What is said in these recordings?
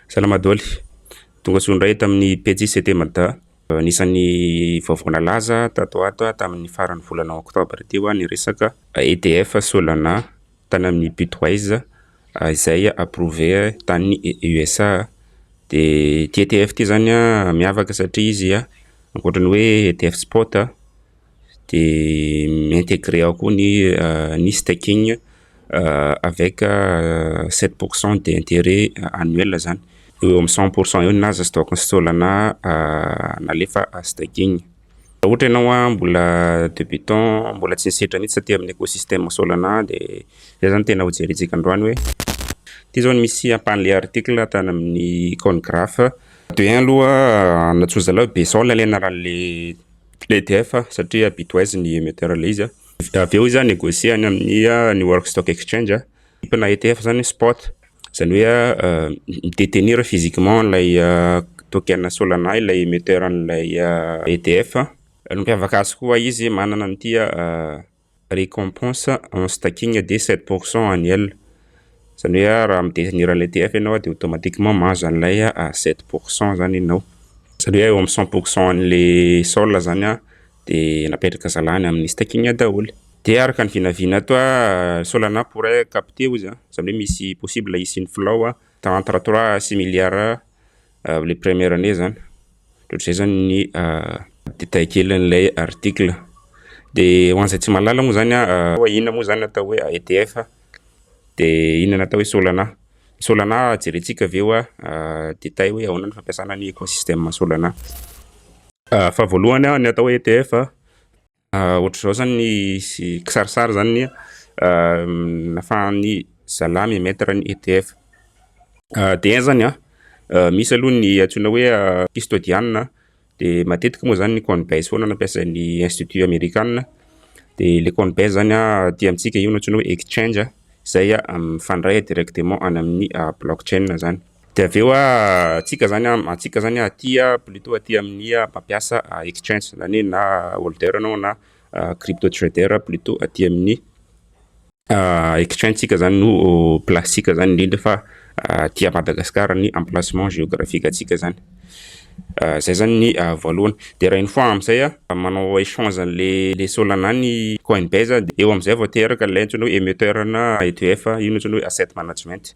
Salama Doly. Tonga soa indray eto amin'ny Pejy CT Mada. Anisan'ny vaovao nalaza tato ho ato tamin'ny faran'ny volana oktobra teo ny resaka EDF Solana tany amin'ny Bitwise izay approuvé tany USA. Dia ity EDF ity izany miavaka satria izy ankoatra ny hoe EDF Spot dia mi-integrer ao koa ny staking avec sept pour cent d'interet annuel izany, eo ho eo amin'ny cent pour cent eo ny naza stock sy Solana nalefa staking. Raha ohatra ianao mbola debutant, mbola tsy nisedra mihitsy taty amin'ny écosystème Solana dia izay izany no tena ho jerentsika androany hoe, ity izao no misy ampahan'ilay article tany amin'ny Coingraph, de un aloha Antsoizalahy Be Saola ilay anaran'ilay. EDF satria Bitwise ny émetteur le izy avy eo izy a négocier any amin'ny New York Stock Exchange na ETF izany spot izany hoe mi détenir physiquement ilay token Solana ilay émetteur an'ilay EDF, ny mampiavaka azy koa izy manana an'ity Récompense en stacking dia sept pour cent annuel. Izany hoe raha mi-détenir an'ilay TF ianao dia automatiquement mahazo an'ilay sept pour cent izany ianao. Izany hoe eo amin'ny cent pour cent an'ilay sol izany dia napetraka zalany amin'ny stacking daholo. Dia araka ny vinavina ato, Solana pourrait capter hoy izy, izany hoe misy possible hisian'ny flow entre trois à six milliards Ilay première année zany, ohatr'izay zany ny détail kelin'ilay article. Dia ho an'izay tsy mahalala moa zany hoe inona moa zany no atao hoe EDF dia inona no atao hoe Solana. Solana jerentsika avy eo détail hoe ahoana ny fampiasana ny écosystème Solana. Faha voalohany ny atao hoe EDF Ohatr'izao zany ny kisarisary zany ny nafahan'ny zalahy mi emettre ny ETF. De un zany an, misy aloha ny antsoina hoe kistodianina, de matetika moa zany ny coinbase foana no ampiasain'ny institut amerikana, de le coinbase zany an aty amintsika io no antsoina hoe exchange izay mifandray directement any amin'ny blockchain zany. Dia avy eo antsika zany antsika zany aty plutot aty amin'ny mampiasa exchange zany hoe na holder anao na crypto trader plutot aty amin'ny exchange tsika zany no place tsika zany indrindra fa aty à Madagascar ny emplacement géographique antsika zany zay zany ny voalohany dia raha iny fois amin'izay manao échange an'le le solana ny coinbase dia eo amin'izay vao teraka le antsoina hoe emetteur na ETF io no antsoina hoe asset management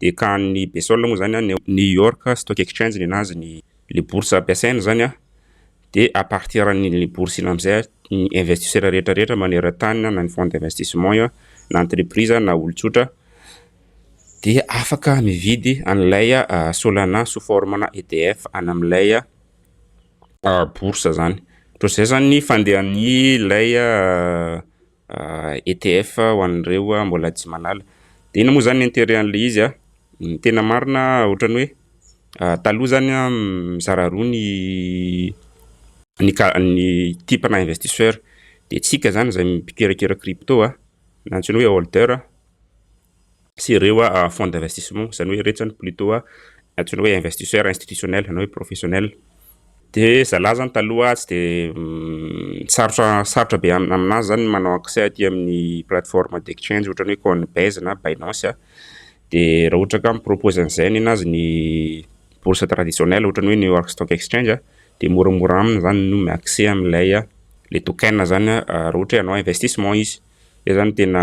dia ka any Bsol moa izany any New York Stock Exchange ny anazy ny le bourse ampiasaina izany an, dia à partir an'iny bourse iny amin'izay ny investisseurs rehetra rehetra maneran-tany na ny fonds d'investissement an, na entreprise na olon-tsotra dia afaka mividy an'ilay Solana sous forme-na edf any amin'ilay bourse izany, ohatr'izay izany ny fandehan'ilay ETF ho an'ireo mbola tsy manala. Dia inona moa izany ny intérêt an'ilay izy? Ny tena marina ohatran'ny hoe taloha izany mizara roa ny ny ka- ny type-na investisseur. Dia isika izany izay mpikerakerak'i crypto na antsoina hoe holder. sy ireo fonds d'investissement, izany hoe iretsy izany plutot antsoina hoe investisseur institutionnel na hoe professionnel. Dia zalahy izany taloha tsy dia sarotra sarotra be amin'azy izany ny manao accès aty amin'ny plateforme d'exchange ohatran'ny hoe Coinbase na Binance. Dia raha ohatra ka mi-propose an'izay nenazy ny bourse traditionnelle ohatran'ny hoe New York Stock Exchange dia moramora aminy izany ny mi-accès amin'ilay le token izany raha ohatra hoe hanao investissement izy. Izay zany tena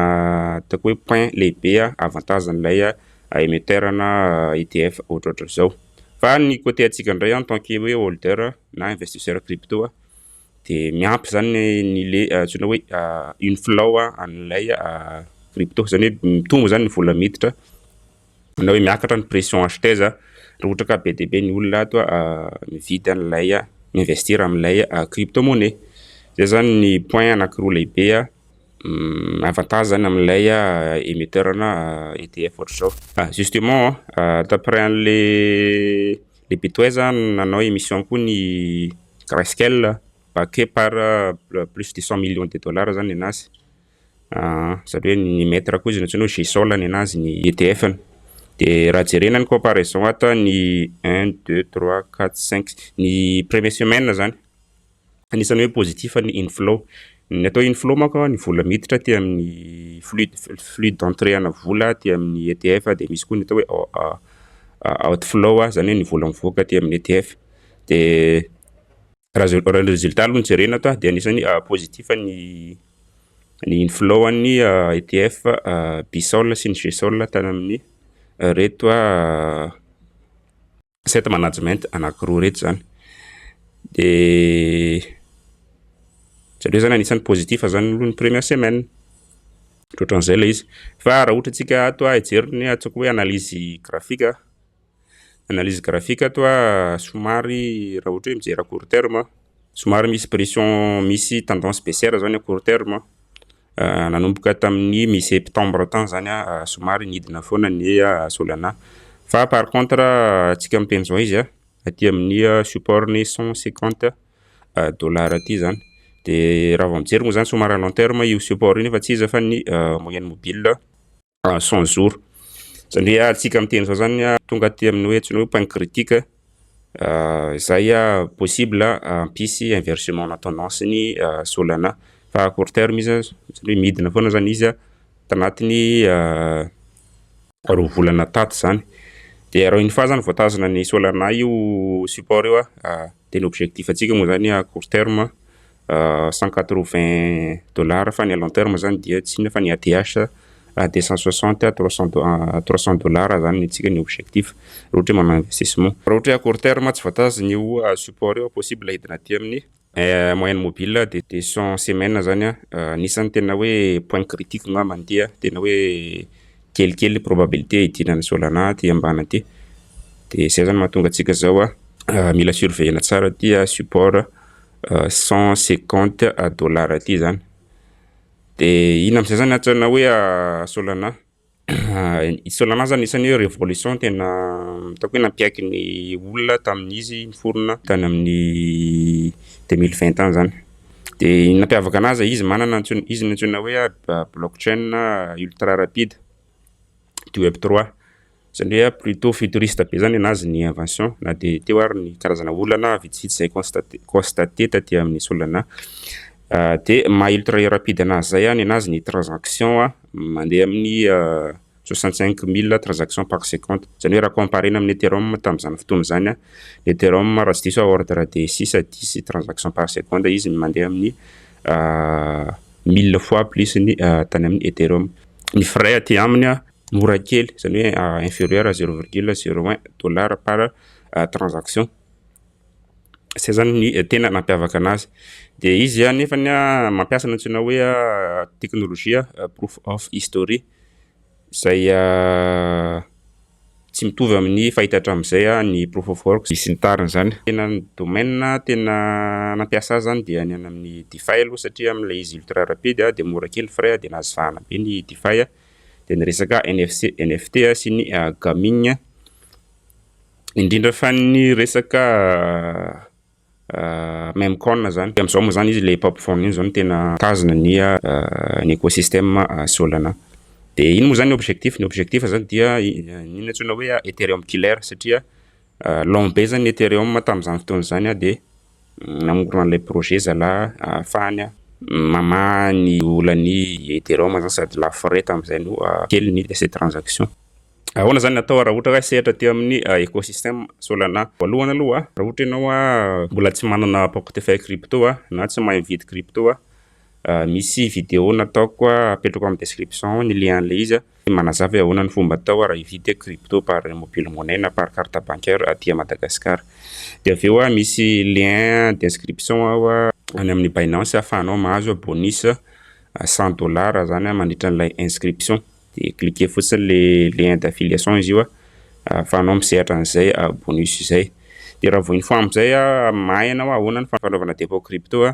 ataoko hoe point lehibe avantage an'ilay emetteur na ETF ohatrohatry izao. Fa ny côté antsika indray en tant que hoe holder na investisseur crypto dia miampy zany ny le antsoina hoe inflow an'ilay crypto, izany hoe mitombo zany ny vola miditra na hoe miakatra ny pression achetez a raha ohatra ka be dia be ny olona ato a mividy an'ilay a mi-investir amin'ilay crypto monnaie zay zany ny point anankiroa lehibe a avantage zany amin'ilay a émetteur na ETF ohatr'izao ah justement a d'après an'le le betway a nanao émission koa ny grayscale backé par plus de cent millions de dollars zany ny anazy Aa, izany hoe ny mètre koa izy no antsoina hoe G sol ny anazy ny ETF ny. Dia raha jerena ny comparaison ato an, ny un, deux, trois, quatre, cinq, ny premier semaine izany, anisany hoe positif ny inflow. Ny atao inflow manko an, ny vola miditra aty amin'ny flux flux d'entrée ana vola aty amin'ny ETF dia misy koa ny atao hoe o a a outflow izany hoe ny vola mivoaka aty amin'ny ETF. Dia. Raha ny résultat aloha no jerena eto dia anisany positif ny ny inflow an'ny ETF Bsol sy ny Gsol tany amin'ny ireto asset management anankiroa ireto izany. Dia jereo izany anisany positif izany aloha ny première semaine. Ohatrohatran'izay ilay izy. Fa raha ohatra antsika ato hijery ny antsoiko hoe analyse graphique. analyse graphique ato a somary raha ohatra hoe mijery à court terme aho somary misy pression misy tendance baissière zany à court terme nanomboka tamin'ny mi septembre tany zany aho somary nidina foana ny solana fa par contre antsika miteny zao izy aty amin'ny support ny cent cinquante dollars aty zany dia raha vao mijery moa zany somary à long terme io support io nefa tsy iza fa ny moyenne mobile ah, cent jours zany hoe alintsika amin'ny teny zao zany ah, tonga aty amin'ny hoe antsoina hoe pain critique ah, izay ah, possible hampisy ah, inversement na tendance ny ah, Solana fa à court terme izy ah, zany hoe midina foana zany izy ah, tanatin'ny ah, roa volana taty zany dia raha iny fa zany voatazona ny Solana io support io ah, ah, Dia ny objectif antsika moa izany à court terme cent quatre vingt dollars fa ny à long terme izany dia tsy inona fa ny ADH deux cent soixante trois cent trois cent dollars izany ny antsika ny objectif raha ohatra hoe manao investissement. Raha ohatra hoe à court terme tsy voatazona io support io possible hidina aty amin'ny moyenne mobile dia deux cent semaines izany anisan'ny tena hoe point critique angamba ny dia tena hoe kelikely ny probabilité hidiran'i Solana aty ambany aty. Dia izay izany mahatonga antsika izao a, mila surveiller-na tsara aty a, support 150 dollars aty izany. Dia iny amin'izay izany antsoina hoe Solana. I Solana izany isan'ny hoe révolution tena ataoko hoe nampiaiky ny olona tamin'izy niforona tany amin'ny 2020 tany izany. Dia ny nampiavaka anazy, izy manana antsoina, izy no antsoina hoe blockchain ultra rapide du web 3. Izany hoe plutôt futuriste be izany anazy ny invention, na dia teo ary ny karazana olana vitsivitsy izay constaté, constaté taty amin'ny Solana. Dia maha ultra rapide anazy izay ny anazy ny transaction mandeha amin'ny soixante cinq mille transactions par seconde, izany hoe raha comparer-na amin'ny Ethereum tamin'izany fotoana izany, ny Ethereum raha tsy diso aho ordre de six à dix transactions par seconde izy ny mandeha amin'ny mille fois plus ny tany amin'ny Ethereum. Ny frais aty aminy mora kely, izany hoe inferieur à zero virgule zero un dollar par transaction, izay izany ny tena nampiavaka anazy. Dia izy anefany mampiasa ny antsoina hoe teknolojia proof of history. izay tsy mitovy amin'ny fahita hatramin'izay ny proof of work sy ny tariny izany. Tena ny domaine tena nampiasa azy izany dia ny any amin'ny Defy aloha satria amin'ilay izy ultra rapide dia mora kely ny frais dia nahazo vahana be ny Defy. Dia ny resaka NFC, NFT sy ny gaming indrindra fa ny resaka Même corne zany. Dia amin'izao moa izany izy ilay pop phone iny izao no tena mitazona ny ny écosystème Solana. Dia iny moa izany ny objectif, ny objectif izany dia iny antsoina hoe Ethereum killer satria lent be izany ny Ethereum tamin'izany fotoana izany dia namorona an'ilay projet zalahy ahafahany mamaha ny olan'ny Ethereum izany sady lafo frais tamin'izay no kely ny lasa transaction. Ahoana izany no atao raha ohatra hoe sehatra aty amin'ny ecosysteme Solana? Voalohany aloha, raha ohatra ianao mbola tsy manana portefeuille crypto na tsy mahay mividy crypto, misy vidéo nataoko apetrako amin'ny description ao ny lien an'ilay izy manazava hoe ahoana ny fomba atao raha hividy crypto par mobile money na par carte bancaire aty Madagascar. Dia avy eo misy lien d'inscription ao any amin'ny Binance ahafahanao mahazo bonus cent dollars izany mandritra an'ilay inscription. dia cliquer fotsiny le lien d'affiliation izy io a, ahafahanao misehatra an'izay bonus izay. Dia raha vao info amin'izay mahay ianao hoe ahoana ny fanaovana dépôt crypto a,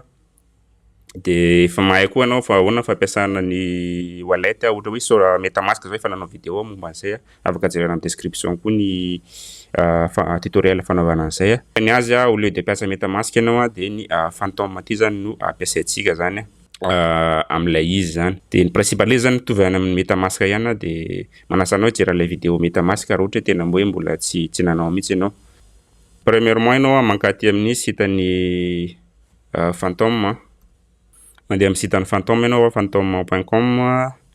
dia efa mahay koa ianao fa ahoana ny fampiasana ny wallet a, ohatra hoe so- metamask izao efa nanao vidéo aho momba an'izay a, afaka jerena amin'ny description koa ny fa- tutoriel fanaovana an'izay a. Ny azy a au lieu de hampiasa metamask ianao a dia ny phantom aty izany no ampiasaintsika izany a. amin'ilay izy zany de ny principe an'ilay izy zany mitovy any amin'ny metamask ihany aho de manasa anao hijery an'ilay vidéo metamask raha ohatra hoe tena hoe mbola tsy tsy nanao mihitsy ianao premièrement ianao an mankaty amin'ny sitan'ny phantom mandeha amin'ny sitan'ny phantom ianao phantom.com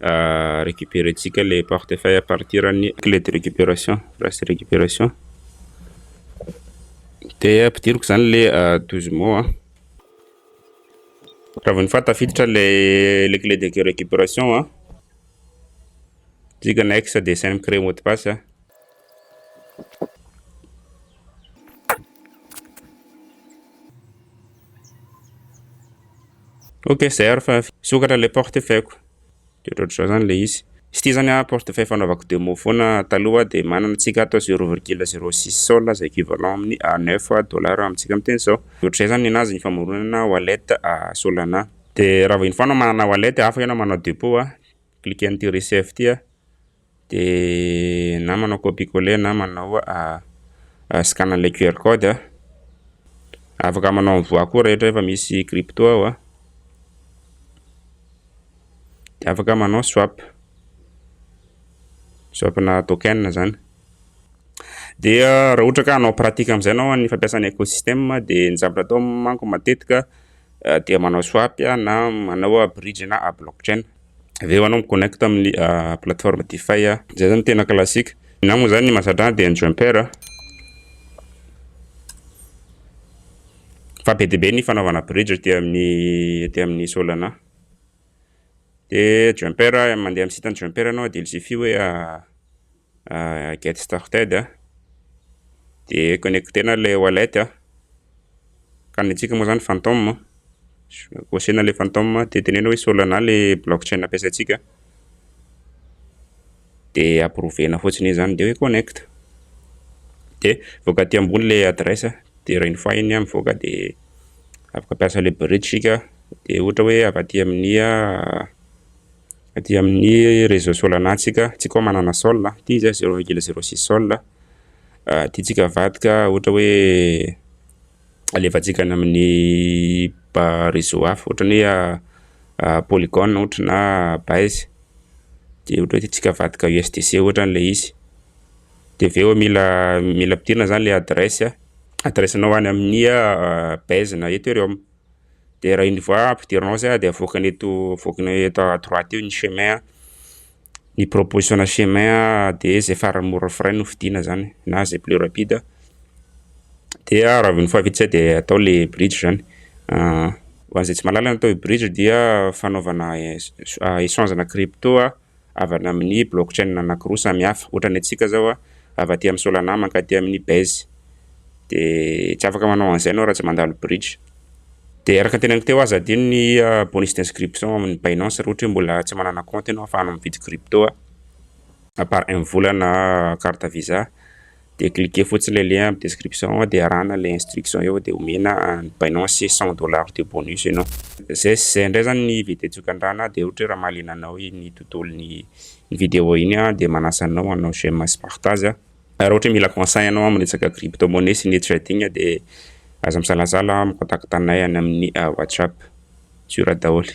Recuperentsika ilay portefeuille à partir an'ny clé de récupération, phrase récupération. Dia ampidiriko izany ilay douze mots an. Raha vao ny faha tafiditra ilay clé de récupération an. Dika next dia sain'ny créer mot de passe an. Ok, zay ary fa sokatra le porte feko. Dia ohatr'izao zany le izy. Sy ty zany a porte fay fanaovako demo foana taloha dia manana tsika ato 0,06 sol izay équivalent amin'ny 9 dollars amintsika amin'ny teny zao. Ohatr'izay zany ny nazy ny famoronana wallet Solana. Dia raha vao iny foana manana wallet afaka ianao manao depot a. Cliquer an'ity receive ty a. de na manao copie coller na manao scan an'ilay QR code a, afaka manao envoi koa rehetra efa misy crypto ao a, de afaka manao swap, swap na token zany. De raha ohatra ka hanao pratique amin'izay ianao amin'ny fampiasana ecosysteme de ny zavatra atao manko matetika dia manao swap na manao bridge na blockchain. avy eo anao mi-connect amin'ny plateforme DeFi a. Zay zany tena classique. Na moa zany ny mahasatrana dia ny jumper a. Fa be dia be ny fanaovana bridge aty amin'ny aty amin'ny Solana. Dia jumper mandeha amin'ny site-n'ny jumper anao dia ilzify hoe ah, get started ah, de connectena le wallet ah, ka ny antsika moa zany phantom ah, kosehina le phantom ah, de teneno hoe solana le blockchain ampiasaintsika de approuvena fotsiny iny zany de hoe connect de voaka aty ambony le adresse de rainy fahiny ah, mivoaka de afaka ampiasa le bridge sika de ohatra hoe avy aty amin'ny ah, Aty amin'ny réseau Solana tsika, tsika manana Sol, ity zay zéro virgule zéro six Sol, ity tsika avadika ohatra hoe alefantsika any amin'ny ba réseau hafa ohatra ny hoe Polygon ohatra na Base, de ohatra hoe ity tsika avadika USDC ohatra le izy, de avy eo mila mila ampidirina zany le adresse adresse nao any amin'ny Base na Ethereum. dia raha une fois ampidirina ao zay dia avoakany eto avoakany eto à droite eo ny chemin ny proposition na chemin dia izay farany mora frais no fidiana zany na izay plus rapide dia raha avy ny fahavita izay dia atao le bridge zany ho an'izay tsy mahalala ny atao hoe bridge dia fanaovana échange na crypto havana amin'ny blockchain anankiroa samy hafa. Ohatra ny antsika izao a, avy aty amin'ny Solana mankaty amin'ny Base. Dia tsy afaka manao an'izay ianao raha tsy mandalo bridge. Dia araka ny teneniko teo, aza adino ny bonus d'inscription amin'ny Binance raha ohatra hoe mbola tsy manana compte ianao ahafahanao mividy crypto par M-vola na carte Visa. dia cliquer fotsiny ilay lien amin'ny description ao dia arahana ilay instruction eo dia omena an'i Binance 100 dollars de bonus ianao. Izay sy izay indray izany ny vidéo tsokan-drano dia ohatra hoe raha mahaliana anao iny tontolon'ny ny vidéo iny aho dia manasa anao hanao j'aime sy partage aho. Ary ohatra hoe mila conseil ianao amin'ny resaka crypto monnaie sy ny trading dia aza misalasala mi-contacte anay any amin'ny WhatsApp. Sur daholo.